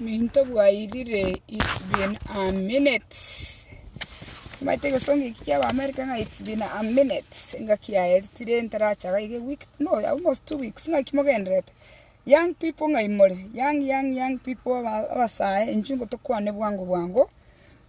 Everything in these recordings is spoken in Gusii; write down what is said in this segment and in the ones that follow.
Minto bwairire it's been a minute omanyete egesongo eki kia America ng'a it's been a minute engaki yaye tire ntaracha iga iga eweek no almost two weeks naki mogendererete young people ng'ai more young young young people aba abasae inchuo ngotokwane bwango bwango.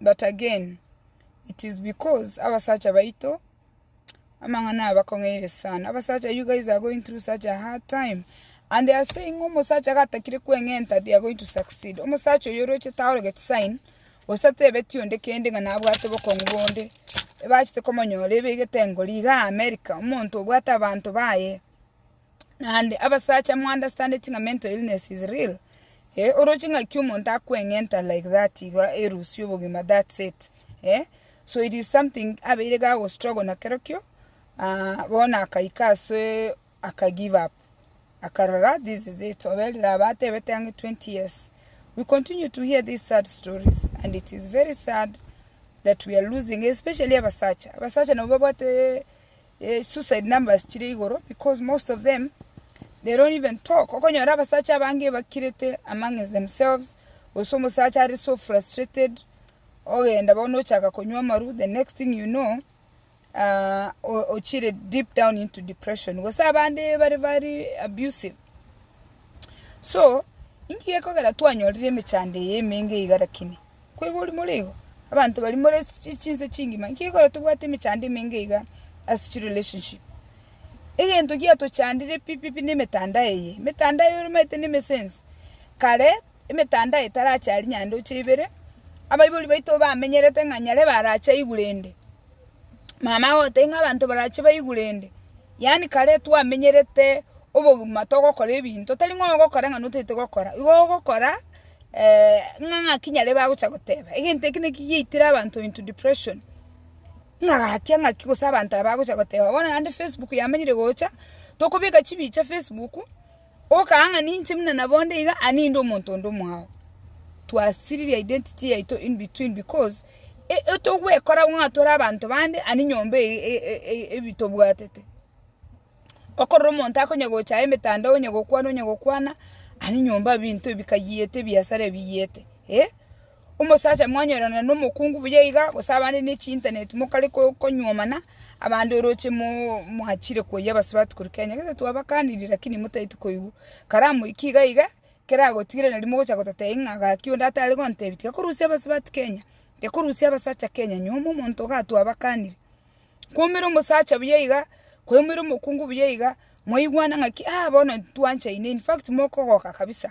But again, it is because abasacha baito amang'ana aya bakong'eire sana. Abasacha you guys are going through such a hard time and they are saying ng'a omosacha gatakire kweng'enta they are going to succeed. Omosacha oyo orochete aorogetie sign gose atebetie onde kende ng'a nabwate obokong'u bonde ebachete komonyora ebegete engori igaa America omonto obwate abanto baye. Naende abasacha mo understand ng'a mental illness is real eh oroche ng'aki omonto akweng'enta like that igo erusie obogima that's it eh so it is something abeire iga ago struggle na kero kio ah bono akaika ase aka give up akarora this is it obe rira abe atebete ang'e 20 years we continue to hear these sad stories and it is very sad that we are losing especially abasacha abasacha nabo babwate suicide numbers chire igoro because most of them they don't even talk. Okonyora abasacha abange bakirete amongst themselves gose omosacha are so frustrated ogenda bono ochaka konywa amaru the next thing you know ah, o- ochire deep down into depression gose abande bare very abusive so inki gekogera twanyorire emechando eye emenge iga lakini Koigwa ori more igo, abanto baria more ase chinse chingima, inki gekora tobwate emechando emenge iga ase chirelationship? Egento giatochandire pi pi pi nemetandao eye, emetandao eye omaete na emesense. Kare, emetandao etarachari naende oche ibere, abaibori baito bamenyerete ng'a nyarebe arache aigure ende, Mama agotebia ng'a abanto barache baigure ende, yaani kare twamenyerete obogima togokora ebinto tari ng'a ogokora ng'a notagete gokora, igo ogokora ng'a ng'aki nyare bagocha goteba egento eke naki giaitire abanto into depression, ng'a gaki ng'aki gose abanto aba bagocha goteba bono naende facebook yamenyire gocha tokobeka chibicha facebook. Okaanga ng'a ninche buna nabonde iga aa ninde omonto onde omwao. Twasiririe identity yaito in between because togwekora ng'a tore abanto bande aa ninyomba eye tobwatete. Okorora omonto akonya gocha aye emetandao onya gokwana onya gokwana aa ninyomba binto ebikayiyete ebiasara ebiyiyete. Omosacha mwanyorana nomokungu buya iga, gose abande ne chiintaneti mokare konyuomana, abande oroche mwachire koyia abasubati korwa Kenya. Gese twabakanirie, lakini motaeti koigwa. Kare amoiki iga iga, ekero agotigire nari mogocha goteta eye ng'a gaki onde atare gontebi, tiga korusia abasubati Kenya, tiga korusia abasacha Kenya, nyuoma omonto iga twabakanirie. Kwaumire omosacha buya iga, kwaumire omokungu buya iga, mwaigwana ng'aki, ah bono ntwanchaine, in fact mokogoka kabisa.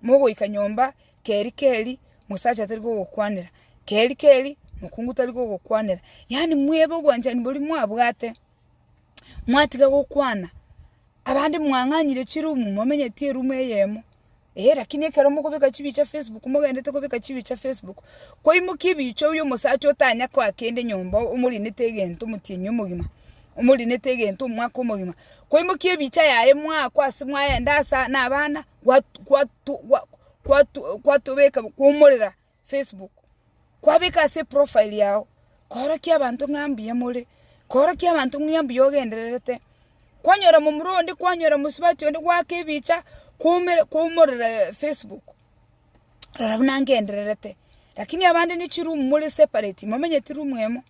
mogoika nyomba, keri keri mosacha tari gogokwanera, keri keri mokungu tari gogokwanera, yaani mwebe obwanchani boria mwabwate, mwatiga gokwana, abande mwang'anyire chirumu momenyeti erumu eyemo, eh lakini ekero mokobeka chibicha facebook mogenderete kobeka chibicha facebook, kwaimokia ebicha oyio omosacha otanya koa kende nyomba omorinete egento omotienyi omogima, omorinete egento omwaka omogima, kwaimokia ebicha yaye mwaakwa ase mwaenda asa nabana. kwatobeka kwomorera Facebook, kwabeka ase eprofile yao korokia abanto ng'a mbuya more, korokia abanto ng'a mbuya ogendererete, kwanyora momura onde, kwanyora mosubati onde gwaaka ebicha kwomorera Facebook, rora buna ngendererete, lakini abande ne chiroom more separate, momenyeti room emo.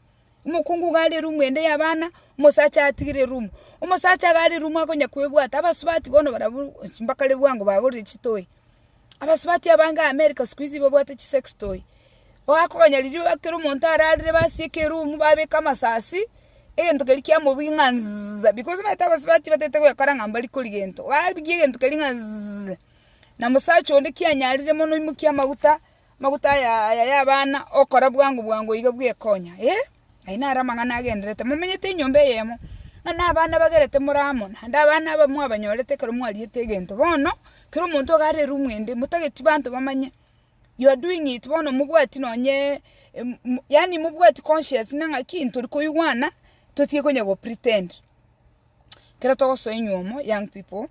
Omokungu iga ari erumu ende y'abana, omosacha atigire erumu. Omosacha iga ari erumu akonya kwebwata, abasubati bono barabwo mpaka ribu ango bagorire chitoy. Abasubati abange America siku hizi babwate chi sex toy. Oakonya riria ekero omonto ararire basieka erumu babeka amasasi, egento keria kia mobugi ng'a zzzza because omanyete abasubati batagete goekora ng'a mbari kori gento. Babigie egento keria ng'a zzzza, na mosacha onde kianyarire mono oimokie amaguta. Amaguta aya y'abana okora bwango bwango iga bw'ekonya. Ee, ayio naro amang'ana agendererete. Momenyete enyomba eyemo, ng'a nabana bagerete more amo, naende abana aba mwabanyorete ekero mwariete egento. Bono, kera omonto iga are erumu ende, motageti banto bamanye, you are doing it, bono mobwati nonye yaani mobwati conscious ng'a ng'aki ntori koigwana, totige konya go pretend. Ekero togosoa enyuomo young people,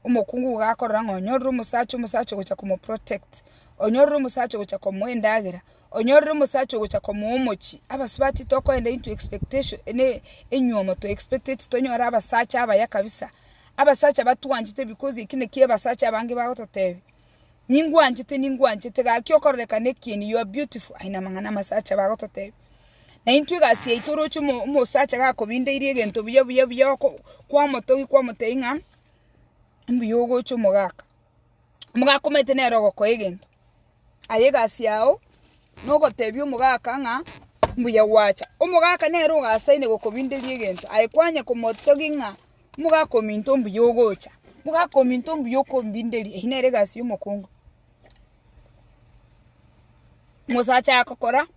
omokungu iga akorora ng'a onyorire omosacha, omosacha ogocha komoprotect, onyorire omosacha ogocha komoa endagera, onyorire omosacha ogocha komoa omochie. Abasubati tokoenda into expectation ne enyuomo to expecteti tonyore abasacha abaya kabisa, abasacha batwanchete because ekio nakio abasacha abange bagototebia. Ningwanchete, ningwanchete, gaki okororekana ekieni, you are beautiful, aye namang'ana amasacha bagototebia. Naintwe egasi yaito oroche omosacha gakobindeirie egento buya buya buya kwamotogia kwamotebia ng'a mbuya ogocha omogaka. Omogaka omanyete nere ogokoa egento, aye egasi yao nogotebia omogaka ng'a mbuya gwacha. Omogaka nere ogasaine gokobinderia egento, aye kwanya komotogia ng'a. Mogaka ominto mbuya ogocha, mogaka ominto mbuya okombinderia, eyio nere egasi y'omokungu. Omosacha agokora,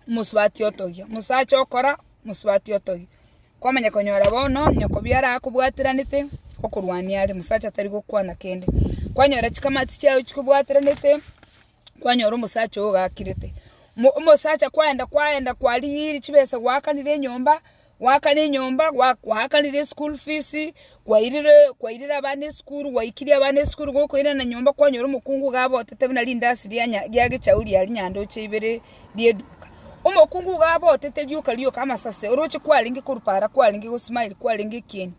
omosubati otogia, omosacha okora, omosubati otogia. Kwamanya konyora bono onye kobia arakobwateranete, okorwania are, omosacha tari gokwana kende. Kwanyora chikamati chiago chikobwateranete. kwanyora omosacha oo ogakirete. Mo- Omosacha kwaenda kwaenda kwarigiiri chibesa gwakanire enyomba, gwakana enyomba, gwa- gwakanire school fees, kwairire kwairire abana esukuru, gwaikirie abana esukuru, gokoirana nyomba kwanyora omokungu iga abotete buna rindasi ria nya- ria gechau ria rinyandoche ibere ria eduka. Omokungu iga abotete rioka rioka amasase oroche kwarenge korupara kwarenge gosmile kwarenge ekieni.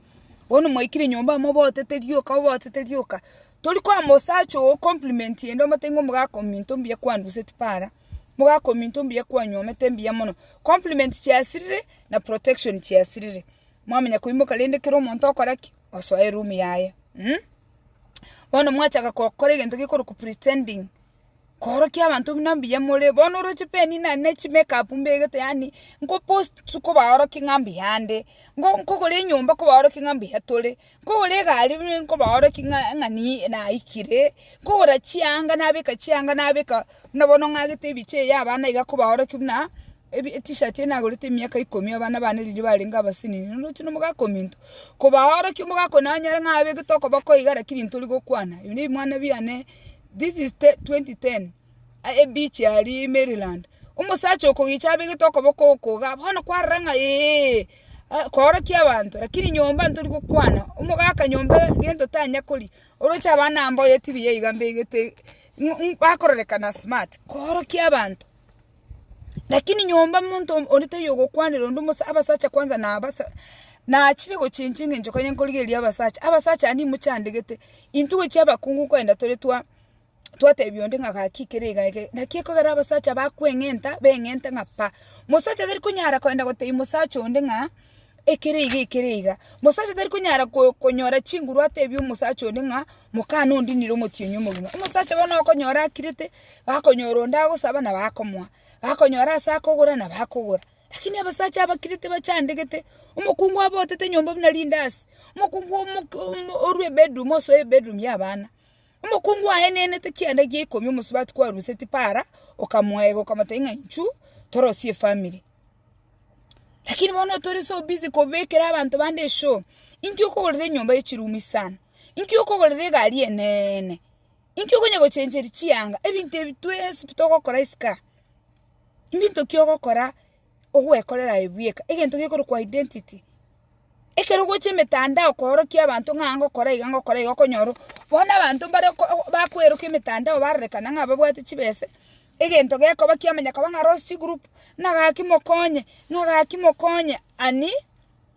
Bono mwaikirie nyomba amo obotete rioka obotete rioka, Tori kwama osacha oo compliment ende omotenge omogaka ominto mbuya kwanduseti para, mogaka ominto mbuya kwanyuomete mbuya mono. Compliment chiasirire na protection chiasirire. Mwamanya koimoka rende kera omonto okora ki? Osoe room yaye. Mh? Bono mwachaka gokora egento gekorokwa pretending, Koorokia abanto buna mbuya more. Bono oroche peni na ne chimekapu mbegete yaani nkopost kobaorokia ng'a mbuya nde, nkogora enyomba kobaorokia ng'a mbuya tore, nkogora egari buna nkobaorokia ng'a ng'a niiii naikire, nkogora chianga nabeka chianga nabeka buna bono ng'agete ebiche eyi abana iga kobaorokia buna ebi etishati eyi nagorete emiaka ikomi abana bane riria barenge abasenini. Oroche na omogaka ominto, kobaorokia omogaka onye nanyare ng'a abegete okoboko iga lakini ntori gokwana. Ebi ne ebimwana biane. This is 2010 ebeach aria Maryland omosacha okogicha abegete okoboko okoga bono kwarora ng'a eeh koorokia abanto lakini nyomba ntori gokwana omogaka nyomba gento tanya koria oroche abana mboyo etv iga mbegete bakororekana smart koorokia abanto. Lakini nyomba monto onde tayogokwanera onde omosabsai, abasacha kwanza nachire gochenchwa engencho kore nkorigereria abasacha, abasacha aa nimochandegete, intwe gochi abakungu nkoenda tore twa twatebia onde ng'a gaki kere iga ege, naki ekogera abasacha bakweng'enta beng'ente ng'a pa, mosacha tarikonyara koenda gotebia mosacha onde ng'a. ekere iga ekere iga. Mosacha tari konyara konyora chinguru atebie omosacha onde ng'a mokana ondinire omotienyi omogima. Omosacha bono okonyora akirete, bakonyora onde agosaba nabo akomoa, bakonyora ase akogora nabo akogora. Lakini abasacha abakirete bachandegete, omokungu abe otete nyomba buna rindasi, omokungu orue ebedroom osoe ebedroom y'abana. Omokungu aenenete chianda egia ikomi omosubati kwaruse Tipara, okamoega, okamotebi ng'a inchu torosie efamiri. Lakini bono tori so busy kobekera abanto bande eshow, inki okogorera enyomba ye chirumu isano? Inki okogorera egari eneene? Inki okonya gochencheri chianga? Ebinto ebi twensi pi togokora isiko aa, mbinto ki ogokora ogwekorera ebieka, egento gekorokwa identity. Ekero ogocha emetandao koorokia abanto ng'a an gokora iga ngokora iga okonyora o, bono abanto mbare ko bakwerokia emetandao barorekana ng'a babwate chibese, egento gekoba kiya manya koba ng'a Rossy group, ng'a gaki mokonye, ng'a gaki mokonye, ani,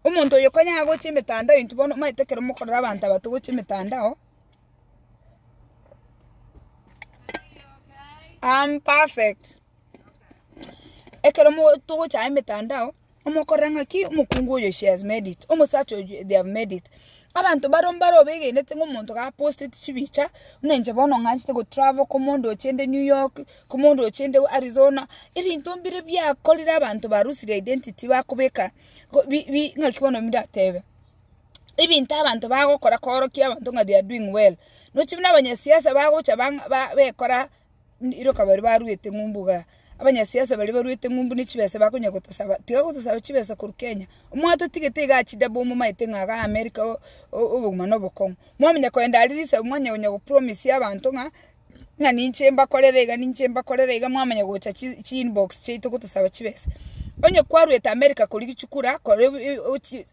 omonto oyo konya agocha emetandao intwe bono omanyete ekero mokorora abanto aba togocha emetandao, I'm perfect. Ekero mo togocha emetandao, omokorera ng'aki omokungu oyo she has made it, omosacha oyo they have made it, abanto bare mbare obegenete ng'a omonto ga posteti chibicha, buna inche bono ng'anchete go travel ko omonto ochende New York, ko omonto ochende Arizona, ebinto mbire biakorire abanto barusire identity bakobeka go bi bi ng'aki bono ndatebe, ebinto abanto bagokora koorokia abanto ng'a they are doing well, nochi buna abanyasiasa bagocha bang'a ba bekora. iroka baria baruete ng'umbu iga, abanyasiasa baria baruete ng'umbu ne chibesa bakonya gotosaba, tiga gotosaba chibesa korwa Kenya, mwatotigete iga achidabo momaete ng'a iga America o- o- obogima na obokong'u, mwamanya kogenda aria risagu mwanya konya go promise abanto ng'a ng'a ninche mbakorere iga ninche mbakorere iga mwamanya gocha chi chi inbox chiaito gotosaba chibesa. Onye kwaruete America koria gichukura kore ebi e- o chi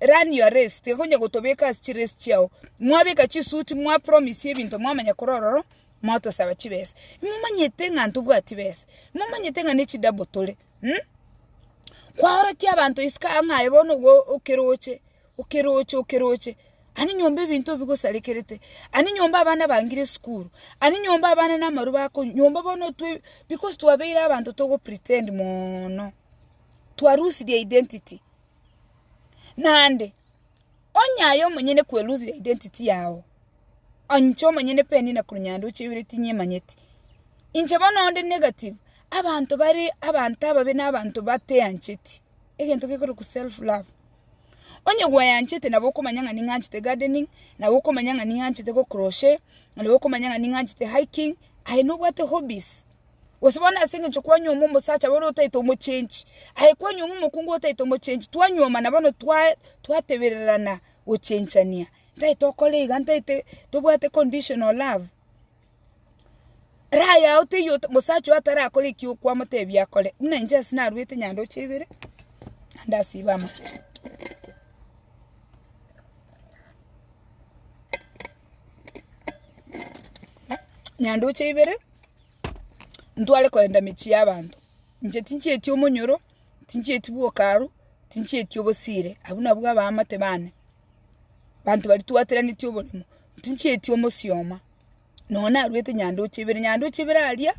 run your race, tiga konya gotobeka ase chirace chiago, mwabeka chisuit mwa promise ebinto mwamanya korwa ororo motosaba chibesa imomanyete ng'a ntobwati besa imomanyete ng'a nechidabo tore mh kwaorokia abanto isiko aa ng'a aye bono igo okeroche okeroche okeroche ani nyomba ebinto bigosarekerete ani nyomba abana bangire esukuru ani nyomba abana namarwa bakonywa nyomba bono otwe because twabeire abanto togopretend moono twarusirie identity naende. Onye aye omonyene kwerusire identity yao, onche omonyene peni na korwa nyande oche ibere tinyemanyeti. Inche bono onde negative, abanto bare abanto ababe na abanto bateancheti, egento gekorokwa self love. Onye gweanchete nabo okomanya ng'a ning'anchete gardening, nabo okomanya ng'a ning'anchete gokroshe, nabo okomanya ng'a ning'anchete hiking, aye nobwate hobbies. Gose bono ase engencho kwanyuoma omosacha bono otaete omochenchi, aye kwanyuoma omokungu otaete omochenchi, twanyuoma na bono twatebererana gochenchania, ntaete okore iga, ntaete tobwate conditional love. Raha yao teiyo mosacha oyo atarakore ekio kwamotebia akore. Buna inche ase narwete nyandoche ibere, naende asibe amache. Nyandoche ibere. ntware kogenda emechie y'abanto. Inche tinchieti omonyoro, tinchieti bwoka arwa, tinchieti obosiire, abwo nabwo abaamate bane, banto baria twateranetie oborimo, tinchieti omosioma, nonya narwete nyandoche ibere, nyandoche ibere aria,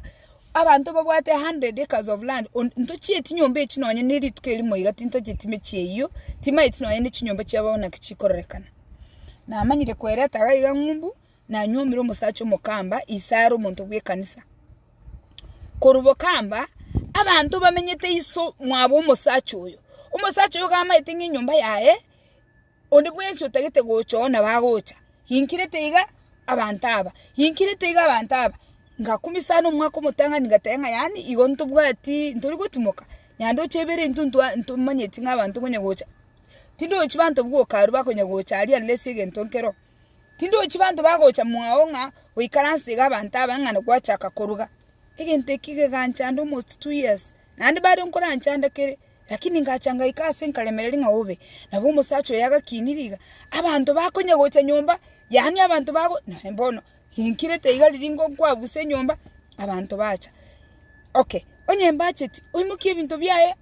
abanto babwate a hundred acres of land on ntochieti nyomba echio nonya ne rituko erimo iga tintocheti emechie eyio, timaeti nonya ne chinyomba chiabo naki chikororekana. Namanyire koereta iga ng'umbu. Nanyuomire omosacha omokamba ise are omonto bw'ekanisa. Korwa bokamba abanto bamenyete iso mwabo omosacha oyo. Omosacha oyo gamaete ng'a enyomba yaye onde bwensi otagete gocha oo nabo agocha. Ginkirete iga abanto aba, ginkirete iga abanto aba. Ngakumia sana omwaka omotang'ani ngateba ng'a yaani igo ntobwati ntori gotimoka naende oche ebere intwe ntwa ntomanyeti ng'a abanto konya gocha. Tindochi banto bwoka aria bakonya gocha aria unless egento nkero. Tindochi banto bagocha mwao ng'a goikaransege abanto aba ng'a nagwachaka koruga. Egento eki keganchanda almost two years. Naende mbare nkoranchanda kere, lakini ngacha ngaika aase nkaremereria ng'a obe. Nabo omosacha oye agakiini riga, abanto bakonya gocha nyomba, yaani abanto bago, naende bono rinkirete iga riria nkoabusa enyomba, abanto bacha. Okay, onye mbacheti, oimokie ebinto biaye,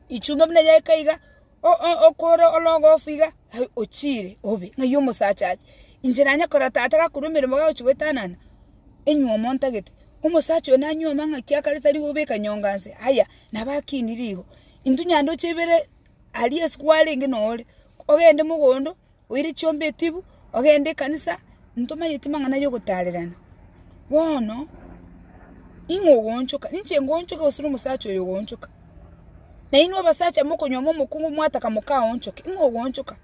ichumba buna yaika iga. okore orogofu iga, aye ochiire obe ng'ai omosacha ache. Inche nanye korora tata gakorwa emeremo gagochia goetanana, enyiomo ntagete, omosacha oyo nanyioma ng'aki akare tari gobeka nyonga nse, aya nabo akinire igo. Intwe nyandwche ibere aria ase kwarenge noo ore, ogende mogondo, Oire chiombe etibu, ogende ekanisa, ntomanyeti mang'ana yogotaarerana. Bono, ning'o ogoonchoka? Ninche ngoonchoke gose nomosacha oyo ogoonchoka? Na inwe abasacha mokonyuoma omokungu mwataka mokaonchoke, ning'o ogoonchoka?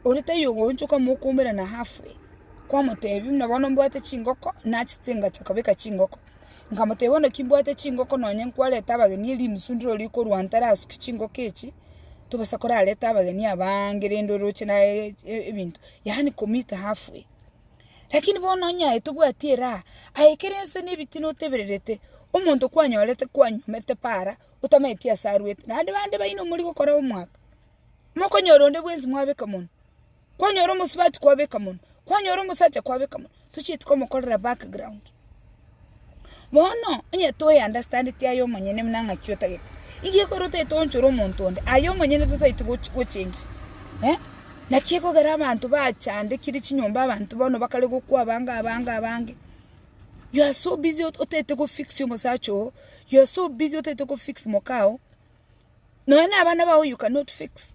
Ore taiyo ogoonchoka mokoumera naye afwe. Kwamoteebia, buna bono mbwate chingoko, nachete ngachaka kobeka chingoko. Nkamotebia, Onde kimbwate chingoko nonye nkwarete abageni erio rinusu ndire oria okorua ntare asuki chingoko echi, tobasa korareta abageni abange rende oroche naye ebinto, yaani ko meet half way. Lakini bono onye aye tobwati eraha, aye ekero ense na ebitina otebererete, omonto kwanyorete kwanyomete para, otamaeti ase arwete, naende bande baino morigokora omwaka, mokonyora onde bwensi mwabeka monwe. Kwanyora omosubati kwabeka mono, kwanyora omosacha kwabeka mono, tochieti komokorera background. Bono onye toyeunderstandeti aye omonyene buna ng'aki otagete, nigo ekero otagete oonchore omonto onde, aye omonyene totageti gochi gochenge eh. Naki ekogera abanto bachandekire chinyomba abanto bono bakare gokwa abange abange abange, you are so busy ot- otagete gofix omosacha oo, you are so busy otagete gofix moka oo, nonya na abana bao you cannot fix.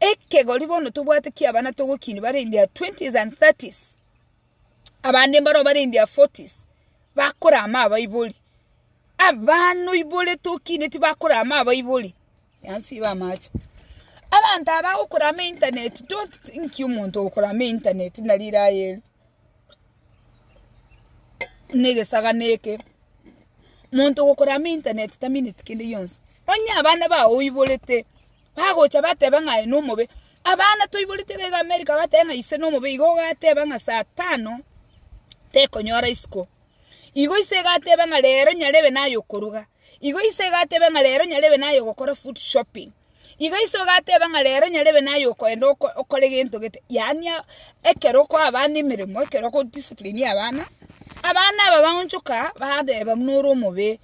Ekegori bono tobwate ki'abana togokinia bare in their twenties and thirties, abande mbaroo bare in their forties, bakorama abaibori. Abana oibore tokinie tibakorama abaibori, yansi iga amache. Abanto aba bagokorama internet, don't think omonto ogokorama internet buna riraya erio na egesagani eke. Monto ogokorama internet tamineti kende gionsi. Onye abana bao oiborete, Bagocha bateba ng'a aye nomobe. Abana toiborete rega America bateba ng'a ise nomobe igo ogateba ng'a saa tano tekonyora isiko. Igo ise egateba ng'a rero nyarebe naye okoruga. Igo ise egateba ng'a rero nyarebe naye ogokora food shopping. Igo ise ogateba ng'a rero nyarebe naye okoenda okore gento gete. Yaani ekero okoa abana emeremo ekero oko discipline abana, abana aba baonchoka bateba buna ore omobe.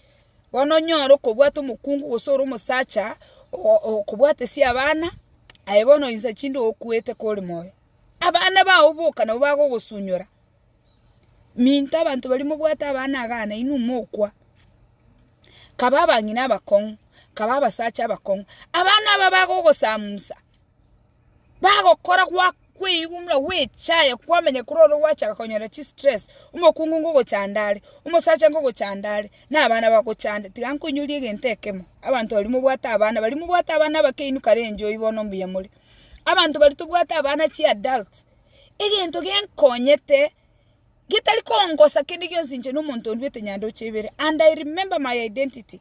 Bono onyore okobwata omokungu gose ore omosacha okobwate sia abana, aye bono insa chinde ogokuete kore moyo. Abana bao boka nabo bagogosunyora. Minto abanto baria mobwate abana iga na inwe mokwa. Kaba abang'ina abakong'u, kaba abasacha abakong'u, abana aba bagogosamusa. Bagokora gwakweigunwa gwechaya kwamenya kore oro gwachaka konyora chi stress omokungu ngogochanda are omosacha ngogochanda are na abana bagochande tiga nkoinyoria egento ekemo abanto baria mobwate abana baria mobwate abana abakeinu kare enjoy bono mbuya more abanto baria tobwate abana chi adults egento genkonyete getari kongosa kende gionsi inche na omonto ondwete nyandoche ibere and I remember my identity.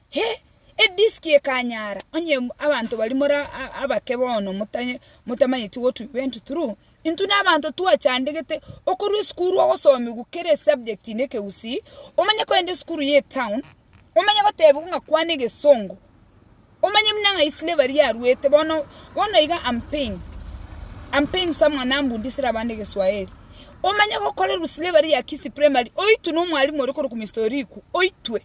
He! Edisiki ekanyaara, onye abanto baria more abake bono motamanyeti what we went through, intwe na abanto twachandegete okorwa esukuru ogosomigwa kera esubject na ekegusii, omanye kogenda esukuru ya etown, omanye gotebigwa ng'a kwana egesongo, omanye buna ng'ai slavery yaruete bono, bono iga am paying, am paying someone nambundisire abande egeswahili, omanye gokorerwa slavery ya Kisii primary oitwe na omwalimu ore korokwa Mister Oriku, oitwe.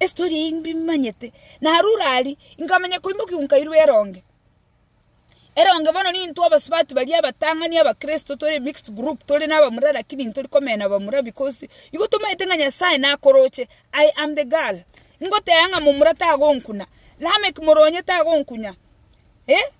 Estory eye mbimanyete narure aria nkamanya koimokia nkairwa eronge, eronge bono nintwe abasubati baria abatang'ani abakristo tore mixed group tore na abamura lakini ntori komenya abamura because igo tomaete ng'a Nyasaye nakoroche I am the girl ngoteba ng'a momura tagonkuna, Lameck moronye tagonkunya eh.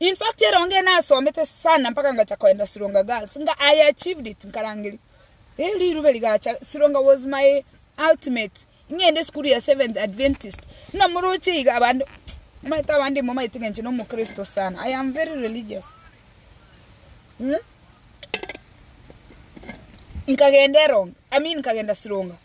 In fact erongo eye nasomete sana mpaka ngacha koenda Sironga Girls nga I achieved it nkarangeria eh rirube rigacha Sironga was my ultimate ng'ende esukuru ya Seventh Adventist buna moroche iga abande omanyete abande momaete ng'a inche nomokristo sana I am very religious mm? nkagenda erongo I mean nkagenda Sironga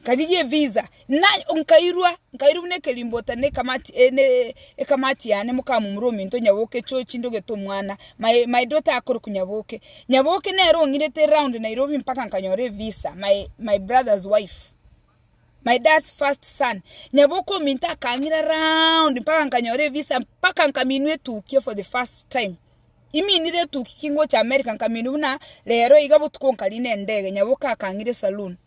Nkarigia evisa, nkairwa buna ekerimbota na ekamati yane mokamumura ominto onyaboke echochi ndogete omwana, my daughter akore konyaboke. Nyaboke nere ong'irete round Nairobi mpaka nkanyora evisa, my brother's wife, my dad's first son. Nyaboke ominto akang'ira round mpaka nkanyora evisa mpaka nkaminwa etukia for the first time. Iminire etukia kingocha America nkaminwa buna rero iga botuko nkarinde endege, nyaboke akang'ira esaloon.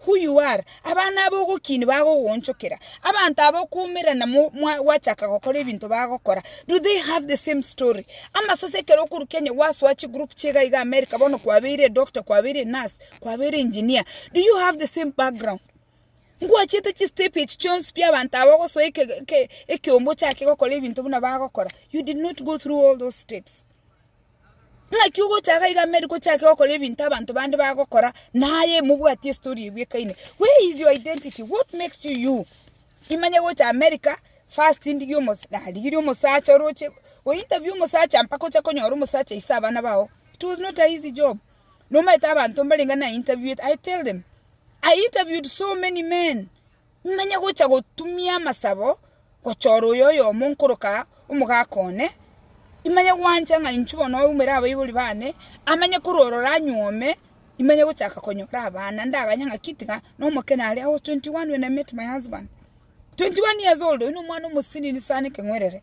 who you are, abana aba ogokiini bagogoonchokera. Abanto aba okoumerana mo- mwa- gwachaka gokora ebinto bagokora, do they have the same story? Amasase ekero okorwa Kenya gwasoa chigroup chiga iga America, bono kwabeire edoctor, kwabeire enurse, kwabeire engineer, do you have the same background? Ngwachete chistep echi chionsi pi abanto aba ogosoa eke- eke- ekeombe ochake gokora ebinto buna bagokora, you did not go through all those steps. Naki ogochaka iga Mary gochake gokora ebinto abanto bande bagokora naye mobwatie story eyio ekaine. Where is your identity? What makes you you? Imanye gocha America first ndigie omos narigirie omosacha oroche o interview omosacha mpaka oche konyora omosacha aise abana bao. It was not a easy job. Nomaete abanto mbarenge na interviewete. I tell them I interviewed so many men Nonye gocha gotumia amasabo gochora oyo oyomo nkoroka omogaka one, imanye gwancha ng'a inchuo bono oumere abaibori bane, amanye kororora anyuome, imanye gochaka konyora abana, ndaganye ng'aki tiga nomokene are I was 21 when I met my husband, 21 years old, oyo nomwana omosinini sana ekeng'werere.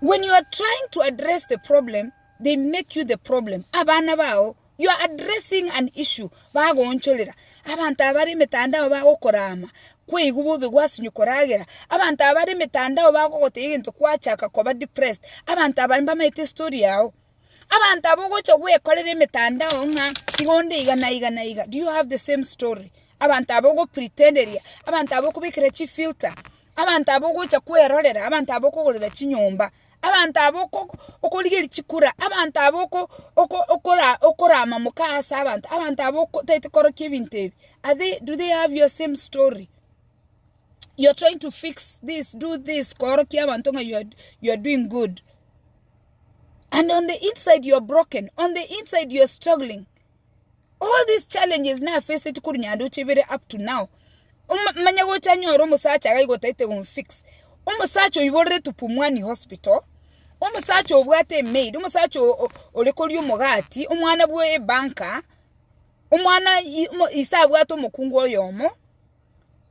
When you are trying to address the problem, they make you the problem. Abana bao, you are addressing an issue, bagoonchorera. Abanto abare emetandao bagokorama, kweigu bobe gwasinywa koragera. Abanto abare emetandao bagogoteba egento kwachaka koba depressed. Abanto abare mbamaete story yao. Abanto abwo ogocha gwekorera emetandao ng'a iga onde iga na iga na iga, do you have the same story? Abanto abwo ogopretenderia, abanto abwo okobekera chifilter, abanto abwo ogocha kwerorera, abanto abwo okogorera chinyomba, abanto abwo okorigeria chikura, abanto abwo oko- oko- okora- okorama moka ase abanto, abanto abwo otaete korokia ebinto ebi, are they, do they have your same story? You're trying to fix this, do this, koorokia abanto ng'a you are doing good. and on the inside you're broken on the inside you're struggling all these challenges na faced kuri nyando chibere up to now Oma- manya gocha nyora omosacha iga igotaete gomfix omosacha oiborere tupumwani hospital omosacha obwate emaid omosacha o- o- ore koria omogati omwana bwe ebanka omwana i- mo- ise abwate omokungu oyomo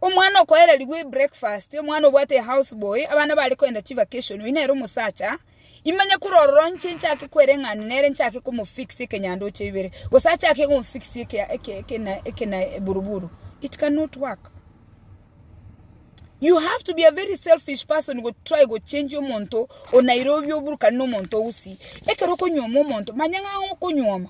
Omwana okoererigwa ebreakfast, omwana obwate ehouse boy, abana bare kogenda chivacation, oyio nere omosacha, imanye kore ororo inche nchake kwereng'ana nere nchake komofix ekenyandoche ibere, gose achake komofix eburuburu, it cannot work. You have to be a very selfish person gotry gochengia omonto o Nairobi oburukane nomonto o Gusii. Ekero okonyuoma omonto, manya ng'a ang'e okonyuoma.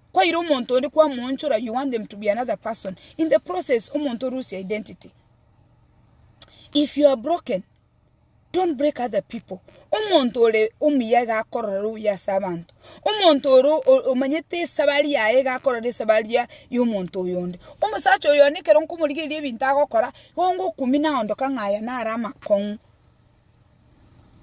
Kwaire omonto onde kwamoonchora you want them to be another person in the process omonto lose identity if you are broken don't break other people omonto ore omuya iga akorora obuya ase abanto omonto ore omanyete esabari yaye iga akorora esabari ya omonto oyonde omosacha oyo one ekero nkomorigereria ebinto agokora igo ngokumina aondoka ng'a aya nare amakong'u.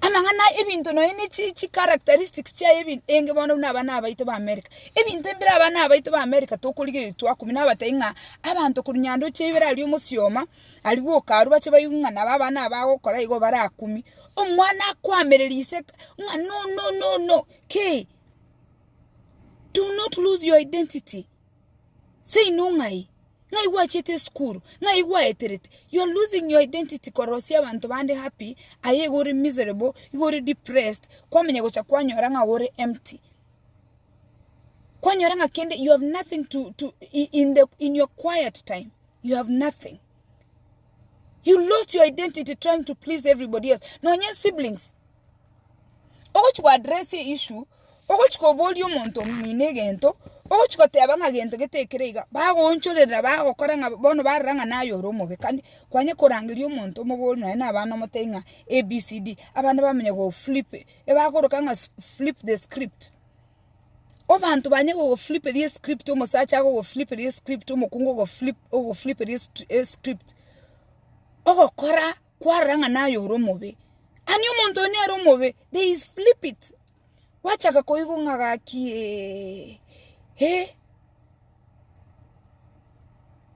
Amang'ana aye ebinto nonya ne chi chi characteristics chiaye ebin- enge bono buna abana abaito ba America. Ebinto mbire abana abaito ba America tokorigereria twakumia nabatebi ng'a abanto korwa nyandoche ya ibere aria omosioma aria bwoka arwa bache baigu ng'a nabo abana aba agokora igo barakumie. Omwana akwamereria ise ng'a no no no no kei do not lose your identity. Seino ng'ai? Ng'ai gwachete esukuru? Ng'ai gwaeterete? You are losing your identity korosia abanto bande happy, aye igo ore miserable, igo ore depressed, kwamanya gocha kwanyora ng'a ore empty. Kwanyora ng'a kende you have nothing to, to i- in, the, in your quiet time, you have nothing. You lost your identity trying to please everybody else. Nonye siblings, Ogochi go address a issue, ogochi koboria omonto omino egento, ogochi goteba ng'a gento gete ekere iga, bagoonchorera bagokora ng'a bono barora ng'a naye ore omobe kare kwanye korangeria omonto omobori nonye na abana omotebi ng'a ABCD, abana bamanye go flip ebakoroka ng'a flip the script. Obanto banye gogo fliperia escript omosacha agogo fliperia escript, omokungu ogo fliperia escript, ogokora. kwarora ng'a naye ore omobe. Ani omonto oyo nere omobe, they is flip it. Gwachaka koigwa ng'a gaki eh, eh,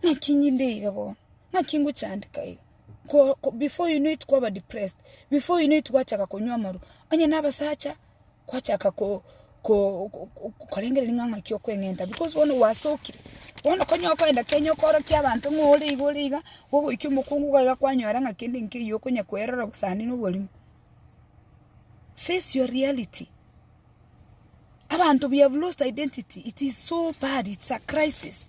ng'aki ninde iga bono, ng'aki ngochandeka iga. Ko- ko- before you know it kwaba depressed, before you know it gwachaka konywa amarwa. Onye na abasacha, kwachaka korengereria ng'a ng'aki okweng'enta because bono gwasokire. Bono konya okoenda Kenya okorokia abanto ng'a ore iga ore iga, ogoika omokungu iga iga kwanyora ng'a kende nkeiyo okonya koerora gose naende na obwarimo. Face your reality. Abanto we have lost identity, it is so bad, it's a crisis.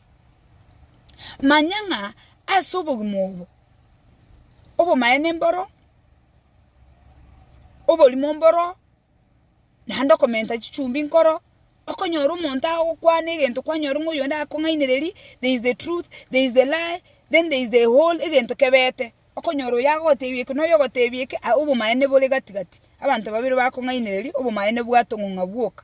Manya ng'a ase obogima obo, obomaene mboro, oborimo mboro, naende okomenta chichumbi nkoro, okonyora omonto agokwana egento kwanyora ng'a oyonde akong'ainereri, there is the truth, there is the lie, then there is the whole egento kebete, okonyora oyo agogotebi eke na oyo ogotebi eke, obomaene bore gati gati, abanto babere bakong'ainereria, obomaene bwatong'ong'a bwoka.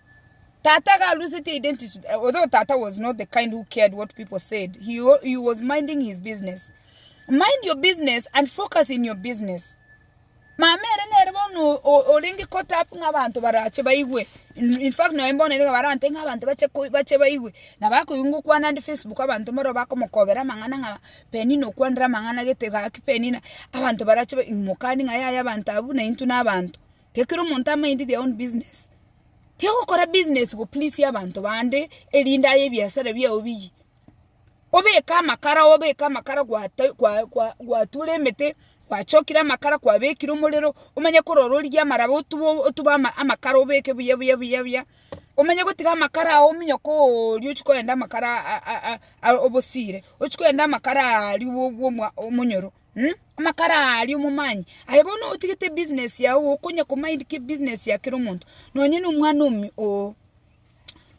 Tata iga alusetie identity although tata was not the kind who cared what people said he, he was minding his business mind your business and focus in your business mama ere nere bono orenge caught up ng'a abanto barache baigwe in fact naye mbono ere barante ng'a abanto bache bache baigwe na bakoigwa ngokwana ande facebook abanto mbaro bakomokobera amang'ana ng'a penina okwanire amang'ana gete gaki penina abanto barache mokani ng'a yaya abanto abwo na intwe na abanto Tekero omonto amaind their own business. Tigokora business go please abanto bande erinde aye ebiasara biao biyie. Obeke amakara obeke amakara gwata gwa gwa gwatura emete, gwachokire amakara kwabekire omorero, omanye korora origie amaraba otube otube ama amakara obeke buya buya buya buya, omanye gotiga amakara ao ominyoke ooria ochie kogenda amakara a a a obosiire, ochie kogenda amakara aria bwo bwomwa omonyoro. Mh, amakara aria omomanye. Aye bono otigete ebusiness yago okonya komind ki ebusiness ya kera omonto. Nonye na omwana omi ooh,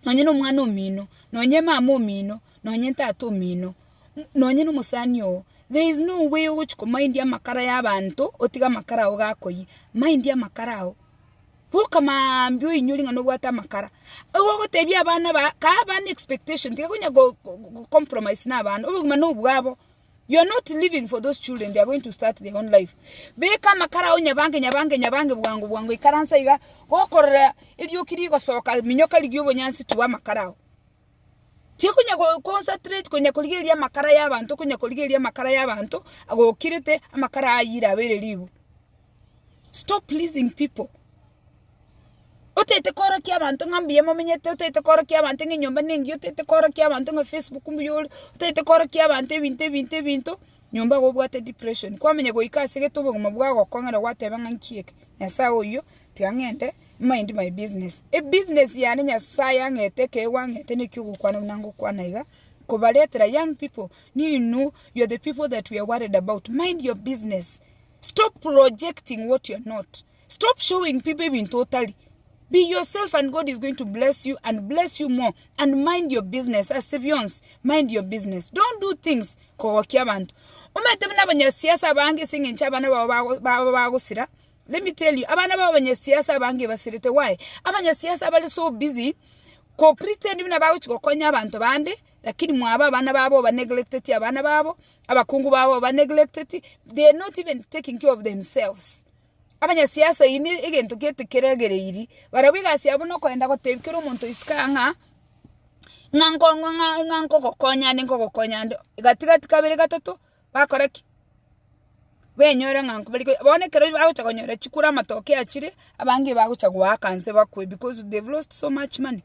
nonye na omwana omino, nonye mama omino, nonye tata omino, nonye na omosani oo, there is no way ogochi komind amakara ya abanto otige amakara ao gakoyia. Mind amakara ao. Boka maambia oinyore ng'a nobwate amakara. Igo ogotebia abana ba, kaaba ne expectation, tiga konya go go go compromise na abana, obogima nobwabo. You are not living for those children, they are going to start their own life. Beka amakara ao nyabange nyabange nyabange bwango bwango ikaransa iga gokorora erioki rigosoka minyoka rigie obonyansi tua amakara ao. Tikonya go concentrate konya korigeria amakara y'abanto konya korigeria amakara y'abanto agokirete amakara ayire abere ribu. Stop pleasing people. Otaete korokia abanto ng'a mbuya momenyete, otaete korokia abanto ng'a enyomba nengiya, otaete korokia abanto ng'a Facebook mbuya ore, otaete korokia abanto ebinto ebinto ebinto, nyomba iga obwate depression. Kwamenya goika ase gete obogima bwao gokong'ere gwateba ng'a nki eke? Nyasae oyio, tiga ng'ende mind my business. Ebusiness yane Nyasae ang'ete ekero gwang'ete nekio ogokwana buna ngokwana iga, kobaretera young people, nigo inwe, you are the people that we are worried about, mind your business. Stop projecting what you're not. Stop showing people ebinto otari. Be yourself and God is going to bless you and bless you more and mind your business ase bionsi. Mind your business. Don't do things kogokia abanto. Omanyete buna abanyasiasa abange ase eng'encho abana bao bago- baba bagosira. Let me tell you, abana bao abanyasiasa abange basirete. Why? Abanyasiasa bari so busy ko pretend buna bagochi gokonya abanto bande lakini mwaba abana babo oba neglected abana babo Abakungu babo ba neglected, they are not even taking care of themselves. Abanyasiasa iyi ne egento gete keregereiri, barabwo egasi yabo na okoenda gotebia kera omonto isiko aa ng'a ng'a nko- ng'a- ng'a- ng'a nkogokonya ande nkogokonya ande, gati gati kabere gatato bakora ki? benyore ng'a nko bari ko bono ekero bagocha konyora chikura amatoke achire, abange bagocha goaka nse bakwe because they've lost so much money.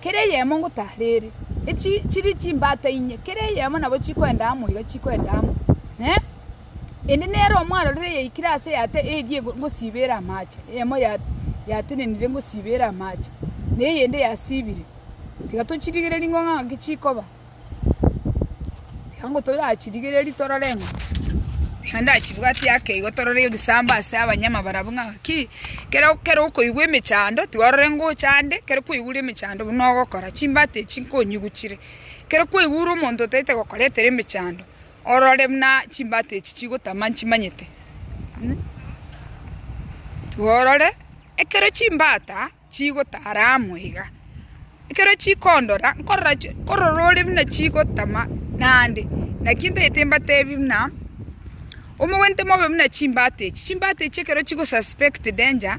kera eyemo ngotarere, echi chiri chimbata inye, kera eyemo nabo chikoenda amo iga chikoenda amo, eh. Ende nere omwarorire eyaikire aase eyate eyie ngosiba ere amache, eyemo ya yatenenire ngosiba ere amache, na eyende yasibire, tiga tochirigereria ng'a ng'aki chikoba. Ekiagera toyachirigereria torore ng'a iga ndachibwate ake igo torore egesambo ase abanyama barabwo ng'a ki ekero okoigwa emechando tiga orore ngocha ande ekero kwaigure emechando buna ogokora chimbata echi nkonyigu chire. Ekero kwaigure omonto otaete gokoretera emechando orore buna chimbata echi chigotama nchimanyete. Tiga orore ekero chimbata. chigotara amo iga. Ekero chikondora, nkorora chi, nkorora ore buna chigotama naende, naki ntagete mbatebi buna, omogwente mobe buna chimbata echi, chimbata echi ekero chigo suspect danger,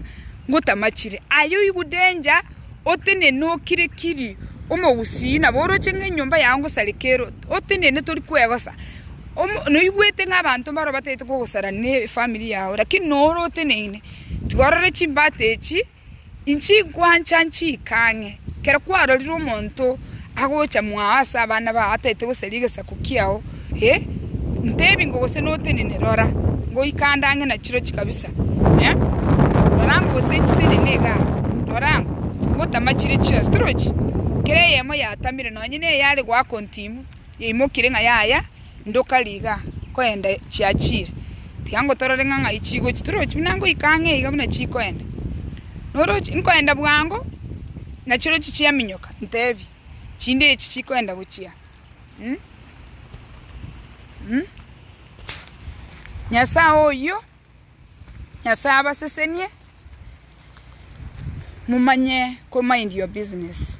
ngotama chire. Aye oigwe danger, otenene okire kiri, omogusii nabo oroche ng'a enyomba yago ngosareka ero, otenene tori kwegosa, omo noigwete ng'a abanto mbaro batagete kogosara ne efamiri yago, lakini noro oteneine. Tikorore chimbata echi, inchi nkwancha nchiika ang'e. Ekero kwarorire omonto agocha mwao ase abana bao ataete gosaria egesaku kiao, eh, ntebi ng'o gose notenene, rora, ngoika ande ang'e na chirochi kabisa, eh, rora ng'o gose nchitenene iga, rora ng'o, ngotama chire chionsi. Torochi? Kera eyemo yatamire, nonye neye are goaka ontimu. Yaimokirie ng'a yaya, ndoka riga koenda chiachiire. Tiga ngotorore ng'a ng'ai chigochia. Torochi buna ngoika ang'e iga buna chikoenda. Noroche, nkoenda bwango, nachirochio chiaminyoka, ntebi, chinde echi chikoenda gochia. Mh, mh. Nyasae oyio, Nyasae abasesenie, momanye ko mind your business.